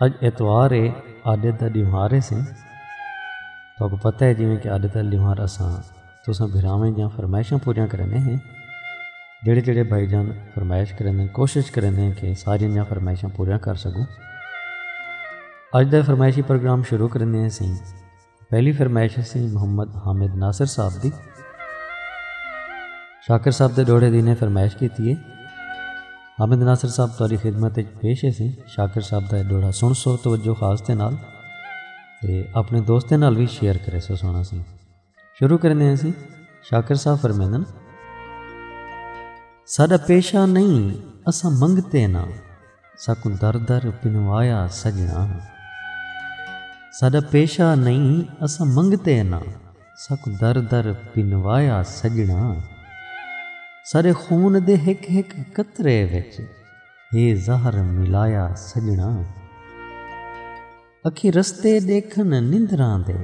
اج اتوار ہے آڈے دا ڈیوہار ہے سن تو کو پتہ ہے جویں کہ آڈے دا ڈیوہار اساں تو اساں بھراویں جاں فرمائشاں پوریاں کرنے ہیں جڑے جڑے بھائی جان فرمائش کرنے ہیں کوشش کرنے ہیں کہ ساری جاں فرمائشاں پوریاں کر سکوں اج دا فرمائشی پروگرام شروع کرنے ہیں سن پہلی فرمائش سی محمد حامد ناصر صاحب دی شاکر صاحب دے ڈوڑے دی نے فرمائش کی تھی ہے حامد ناصر صاحب تاری خدمت ایک پیش ہے سی شاکر صاحب دا ڈوڑا سن سو توجہ خاص دے نال تے اپنے دوستیں نال بھی شیئر کرے سو سونا سی شروع کرنے ہیں سی شاکر صاحب فرمیدن ساڈا پیشہ نہیں اسا منگتے نہ ساکوں در در پنوایا سجناں ساڈا پیشہ نئیں اساں منگتے ناں ساکوں در در پنوایا سجناں ساڈے خون دے ہک ہک قطرے وچ ہے زہر ملایا سجناں۔ اکھیں رستے ݙیکھن نندراں دے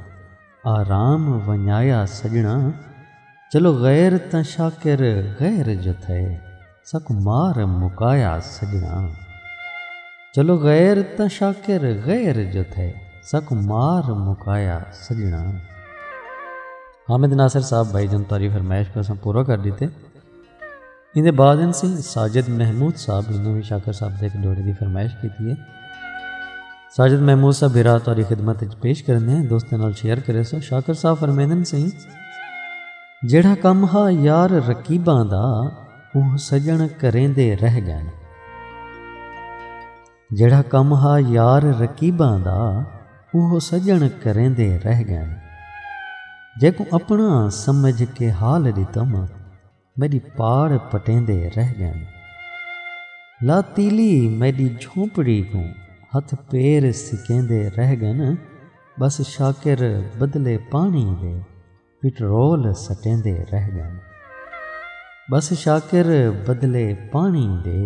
آرام ونڄایا سڄݨاں چلو غیر تاں شاکر غیر جو تھئے ساکوں مار مکایا سڄݨاں چلو غیر تاں شاکر غیر جو تھئے ساکوں مار مکایا سڄݨاں۔ حامد ناصر صاحب بھائی جان تعریف فرمائش کو اساں پورا کر ݙتے۔ اندے بعد ان سی ساجد محمود صاحب انہوں نے شاکر صاحب دے ایک جوڑے دی فرمائش کی تھی ہے ساجد محمود صاحب ہرا تاری خدمت اچ پیش کرنے ہیں دوستیں نال شیئر کرے سو شاکر صاحب فرمیدن سی جیڑا کم ہا یار رکیباں دا اوہ سجن کریں دے رہ گئن جیڑا کم ہا یار رکیباں دا اوہ سجن کریں دے رہ گئن جے کو اپنا سمجھ کے حال دیتا ماں میݙی پاڑ پٹیندے رہ ڳن۔ لا تیلی میݙی جھونپڑی کوں ہتھ پیر سکیندے رہ ڳن۔ ٻس شاکر بدلے پاݨی دے پٹرول سٹیندے رہ ڳن۔ ٻس شاکر بدلے پاݨی دے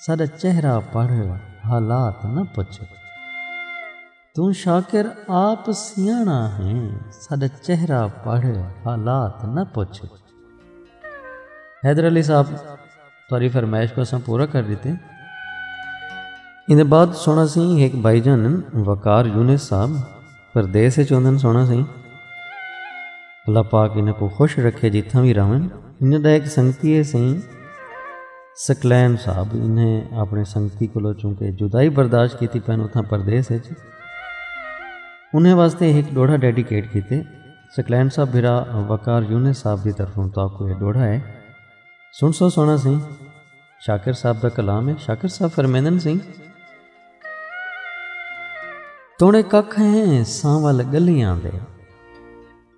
ساڈا چہرہ پڑھ حالات نہ پچھو توں شاکر آپ سیاݨا ہیں ساڈا چہرہ پڑھ حالات نہ پچھو حیدر علی صاحب تہاڈی فرمائش کو اساں پورا کر ڈتے ایندے بعد سنڑاں سی ہک بھائی جان وقار یونس صاحب پردیس اچ ہوندن سونا سئیں اللہ پاک انہاں کوں خوش رکھے جتھاں وی رہون انہاں دا ہک سنگتی ہے سئیں سکلین صاحب انہیں اپنے سنگتی کولو چونکہ جدائی برداشت کیتی پن اتھاں پردیس اچ انہیں واسطے ہک ڈوڑھا ڈیڈیکیٹ کیتے سکلین صاحب بھرا وقار یونس صاحب دی طرفوں تاکو یہ ڈوڑھا ہے سن سو سونا سئیں شاکر صاحب دا کلام ہے شاکر صاحب فرمیندن سی توڑے ککھ ہیں سانول گلیاں دے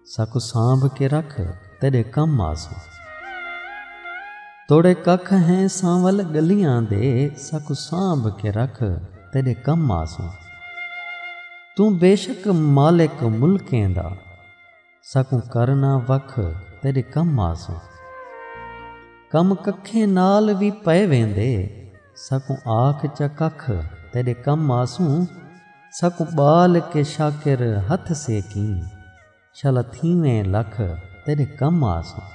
ساکو سانبھ کے رکھ تیرے کم آسو توڑے ککھ ہیں سانول گلیاں دے ساکو سانبھ کے رکھ تیرے کم آسو توں بے شک مالک ملکیں دا ساکوں کر نہ وکھ تیڈے کم آسوں۔ کم ککھیں نال وی پئے ویندے۔ ساکوں آکھ چا ککھ تیڈے کم آسوں۔ ساکوں ٻال کے شاکر ہتھ سیکیں۔ شالا تھیویں لکھ تیڈے کم آسوں۔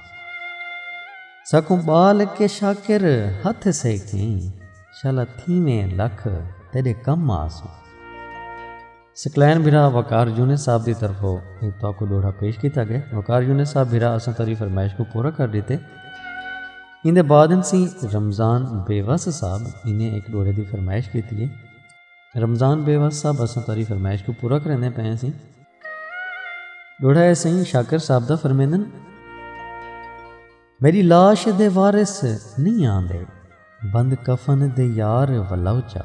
ساکوں ٻال کے شاکر ہتھ سیکیں۔ شالا تھیویں لکھ تیڈے کم آسوں۔ سکلین بھرا وقار یونس صاحب دی طرف ہو ایک تو کو دوڑا پیش کیتا گئے وقار یونس صاحب بھرا اساں تری فرمائش کو پورا کر دیتے اندے بعد انسی رمضان بیوس صاحب انہیں ایک دوڑے دی فرمائش کیتی ہے رمضان بیوس صاحب اساں تری فرمائش کو پورا کرنے پہ ہیں سی دوڑا ہے سہی شاکر صاحب دا فرمیندن میݙی لاش دے وارث نئیں آندے بند کفن دے یار ولو چا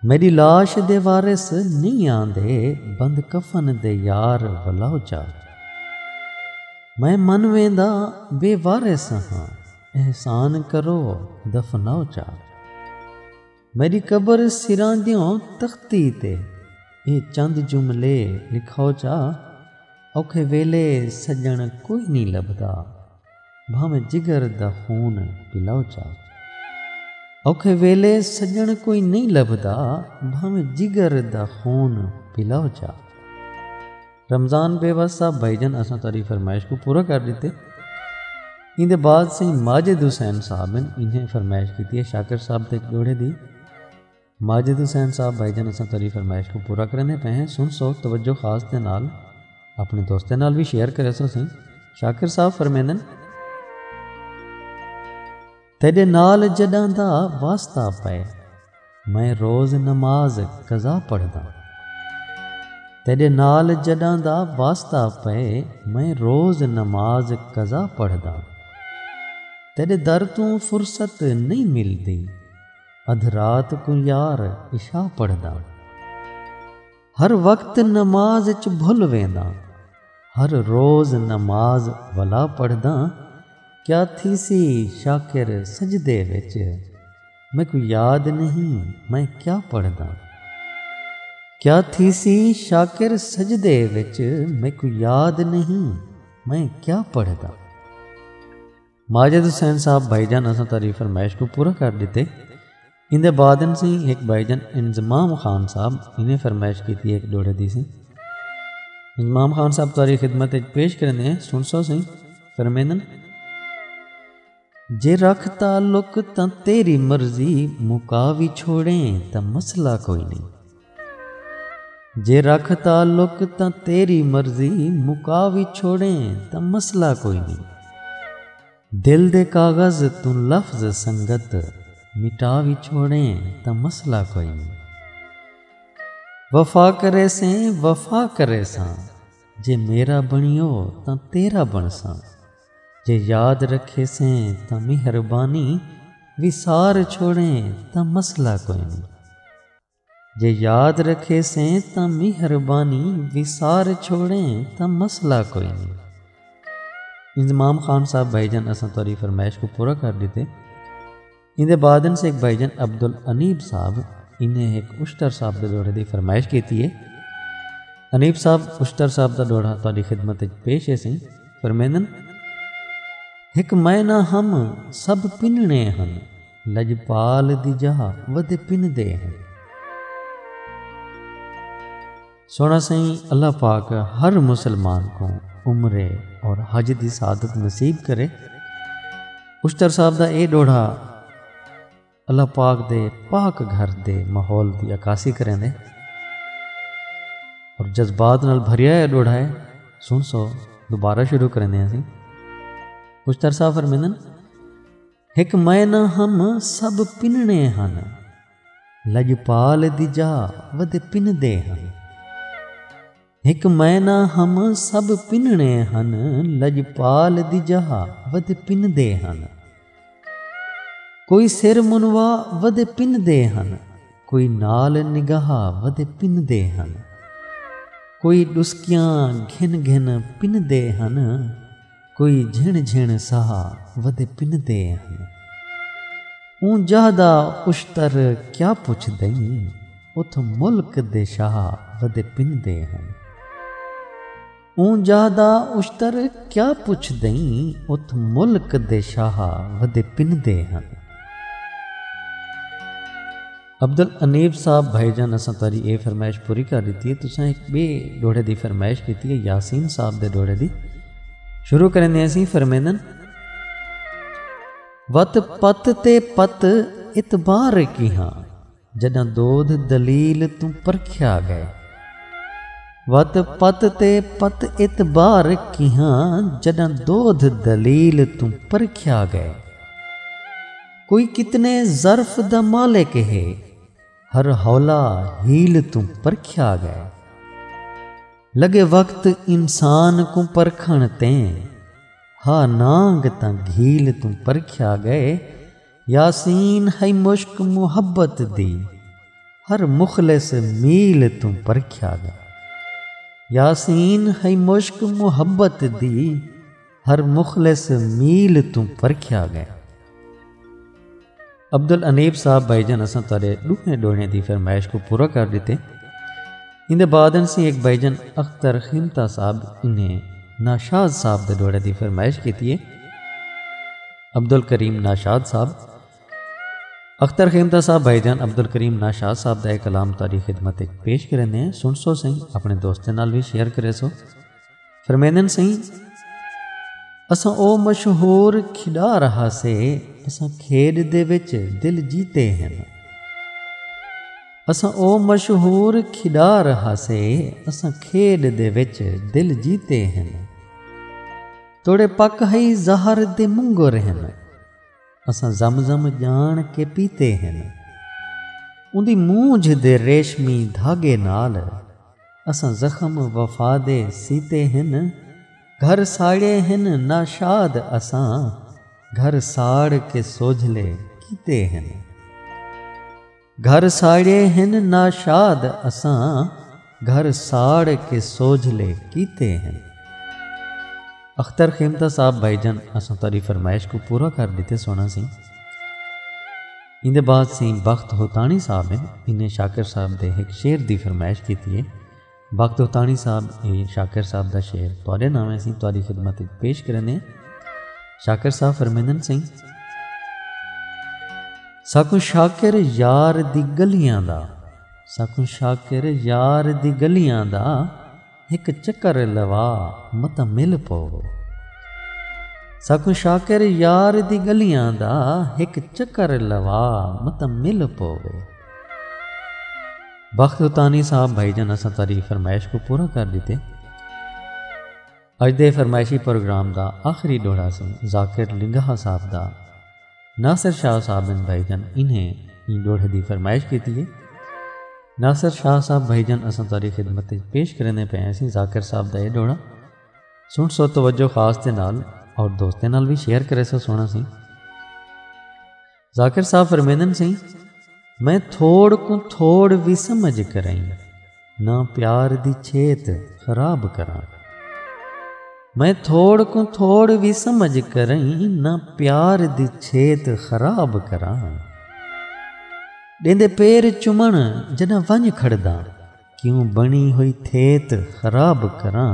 میݙی لاش دے وارث نئیں آندے بند کفن دے یار ولو چا میں من ویندا بے وارث ہاں احسان کرو دفناؤ چا۔ میݙی قبر سراں دیوں تختی تے اے چند جملے لکھاؤ چا اوکھے ویلے سڄݨ کوئی نی لبھدا بھانویں جگر دا خون پلاؤ چا اوکھے ویلے سڄݨ کوئی نی لبھدا بھانویں جگر دا خون پلاؤ چا۔ رمضان بیوس صاحب بھائی جان اساں تاری فرمائش کو پورا کر دیتے ان دے بعد سے ماجد حسین صاحب ہیں انہیں فرمائش کی تھی ہے شاکر صاحب تے جوڑے دی ماجد حسین صاحب بھائی جان اساں تاری فرمائش کو پورا کرنے پہ ہیں سن سو توجہ خاص دے نال اپنے دوستیں نال بھی شیئر کرے سو سن شاکر صاحب فرمیندن تیڈے نال جڈاں دا واسطہ پئے میں روز نماز قضا پڑھدا تیڈے نال جڈاں دا واسطہ پئے میں روز نماز قضا پڑھدا تیڈے در توں فرصت نہیں ملدی ادھ رات کو یار عشاء پڑھدا ہر وقت نماز اچ بھل وینداں ہر روز نماز ولا پڑھداں کیا تھیسی شاکر سجدے وچ میکوں یاد نہیں میں کیا پڑھداں کیا تھیسی شاکر سجدے وچ میکوں یاد نہیں میں کیا پڑھداں۔ ماجد حسین صاحب بھائی جان اساں تاری فرمائش کو پورا کر دیتے ان دے بعد ان سی ایک بھائی جان انضمام خان صاحب انہیں فرمائش کی تھی ایک ڈوڑے دی سی انضمام خان صاحب تاری خدمت ایک پیش کرنے ہیں سن سو سی فرمیدن جے رکھ تعلق تاں تیری مرضی مکاوی چھوڑیں تاں مسئلہ کوئی نہیں جے رکھ تعلق تاں تیری مرضی مکا وی چھوڑیں تاں مسئلہ کوئی نئیں دل دے کاغذ توں لفظ سنگت مٹا وی چھوڑیں تاں مسئلہ کوئی نئیں وفا کریسیں وفا کریساں جے میرا بنیو تاں تیرا بنساں جے یاد رکھیسیں تاں مہربانی وسار چھوڑیں تاں مسئلہ کوئی نئیں۔ جے یاد رکھیسیں تاں مہربانی وسار چھوڑیں تاں مسئلہ کوئی نئیں۔ انضمام خان صاحب بھائی جان اساں تہاڈی فرمائش کوں پورا کر ڈتے۔ ایندے بعد انس ہک بھائی جان عبدالانیب صاحب انہیں ہک اشتر صاحب دے ڈوہڑے دی فرمائش کیتی ہے۔ انیب صاحب اشتر صاحب دا ڈوہڑہ تہاڈی خدمت وچ پیش ہیسیں۔ فرمیندن۔ ہک معنی ہم سب پننڑیں ہن۔ لجپال دی جاہ ودے پندے ہیں۔ سونا سائیں اللہ پاک ہر مسلمان کو عمرے اور حج دی سعادت نصیب کرے اشتر صاحب دا اے ڈوڑھا اللہ پاک دے پاک گھر دے ماحول دی عکاسی کریں دے اور جذبات نال بھریا ہے ڈوڑھا ہے سن سو دوبارہ شروع کریں دے ہیں اشتر صاحب فرمیندن ہک میں نہ ہم سب پنݨے ہن لڄپال دی جا ودے پندے ہن ہک میں نہ ہم سب پنݨے ہن لڄپال دی جا ودے پندے ہن کوئی سر منوا ودے پندے ہن کوئی نال نگاہ ودے پندے ہن کوئی ݙسکیاں گھن گھن پندے ہن کوئی جھنڑ جھنڑ ساہ ودے پندے ہن۔ اوں جاہ دا اشتر کیا پچھ دئیں اتھ ملک دے شاہ ودے پندے ہن۔ اوں جاہ دا اشتر کیا پچھ دئیں اتھ ملک دے شاہ ودے پندے ہن۔ عبدالانیب صاحب بھائی جان اساں تہاڈی اے فرمائش پوری کر ڈتی ہے تساں ہک بے ڈوہڑے دی فرمائش کیتی ہے یاسین صاحب دے ڈوہڑے دی شروع کریں دے اسی فرمیندن وت پت تے پت اتبار کی ہاں جداں دودھ دلیل تو پرکھیا گئے وت پت تے پت اتبار کی ہاں جداں دودھ دلیل تو پرکھیا گئے کوئی کتنے ظرف دا مالک ہے ہر حولا ہیل توں پرکھیا گئے لگے وقت انسان کوں پرکھن تیں ہا نانگ تاں گھیل توں پرکھیا گئے یاسین ہے مشک محبت دی ہر مخلص میل توں پرکھیا گئے یاسین ہے مشک محبت دی ہر مخلص میل توں پرکھیا گئے عبد الانیب صاحب بھائی جان اساں تارے ڈوہیں ڈوڑیں دی فرمائش کو پورا کر دیتے ان دے بعد انسی ایک بھائی جان اختر خیمتا صاحب انہیں ناشاد صاحب دے ڈوڑے دی فرمائش کیتی ہے عبد الکریم ناشاد صاحب اختر خیمتا صاحب بھائی جان عبد الکریم ناشاد صاحب دا ایک کلام تاری خدمت ایک پیش کرنے ہیں سن سو سنگھ اپنے دوستیں نال بھی شیئر کرے سو فرمیندن سائیں اساں او مشہور کھڑا رہا سے اساں کھیڑ دے وچ دل جیتے ہیں اساں او مشہور کھڑا رہا سے اساں کھیڑ دے وچ دل جیتے ہیں توڑے پک ہئی زہر دے منگو رہن اساں زم زم جان کے پیتے ہیں اندی مونجھ دے ریشمی دھاگے نال اساں زخم وفا دے سیتے ہن گھر ساڑے ہن ناشاد اساں گھر ساڑ کے سوجھلے کیتے ہن گھر ساڑے ہن ناشاد اساں گھر ساڑ کے سوجھلے کیتے ہن۔ اختر خیمتہ صاحب بھائی جان اساں تہاڈی فرمائش کوں پورا کر ڈتے سونا سی۔ ایندے بعد سئیں بخت ہوتاݨی صاحب ہن انہیں شاکر صاحب دے ہک شعر دی فرمائش کیتی ہے۔ بخت ہوتاݨی صاحب اے شاکر صاحب دا شعر تہاݙے ناویں اسیں تہاݙی خدمت اچ پیش کریندے ہیں۔ شاکر صاحب فرمیندن سئیں۔ ساکوں شاکر یار دی گلیاں دا ساکوں شاکر یار دی گلیاں دا۔ ہک چکر لوا متاں مل پوو۔ ساکوں شاکر یار دی گلیاں دا ہک چکر لوا متاں مل پوو۔ بخت اتانی صاحب بھائی جان اساں تہاڈی فرمائش کوں پورا کر ڈتے۔ اج دے فرمائشی پروگرام دا آخری ڈوہڑا سی ذاکر لنگاہا صاحب دا۔ ناصر شاہ صاحب بن بھائی جان انہیں ایں ڈوہڑے دی فرمائش کیتی ہے۔ ناصر شاہ صاحب بھائی جان اساں تہاڈی خدمت اچ پیش کریندے پئے ہیسیں ذاکر صاحب دا اے ڈوہڑا سنڑ سو توجہ خاص دے نال اور دوستیں نال وی شیئر کریسو سوہنڑا سی۔ ذاکر صاحب فرمیندن سیں میں تھوڑ کوں تھوڑ وی سمجھ کرئیں۔ نہ پیار دی چھیت خراب کراں میں تھوڑ کوں تھوڑ وی سمجھ کریں نہ پیار دی چھیت خراب کراں ڈیندے پیر چمن جڈاں ونج کھڑدا کیوں بنی ہوئی تھیت خراب کراں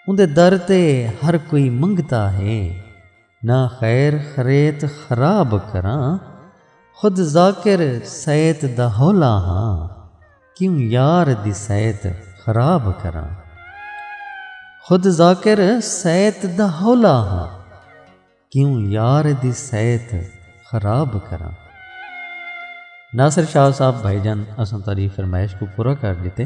اوندے در تے ہر کوئی منگتا ہے۔ نہ خیر خریت خراب کراں خود ذاکر سیت دا ہولا ہاں کیوں یار دی سیت خراب کراں خود ذاکر سیت دا ہولا ہاں کیوں یار دی سیت خراب کراں ناصر شاہ صاحب بھائی جان اساں تاری فرمائش کو پورا کر دیتے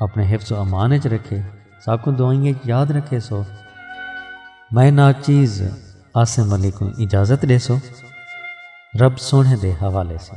اپݨے حفظ و امان اچ رکھے ساکوں دعائیں اچ یاد رکھے سو میں ناچیز عاصم علی کوں اجازت ڈے سو رب سونے دے حوالے سے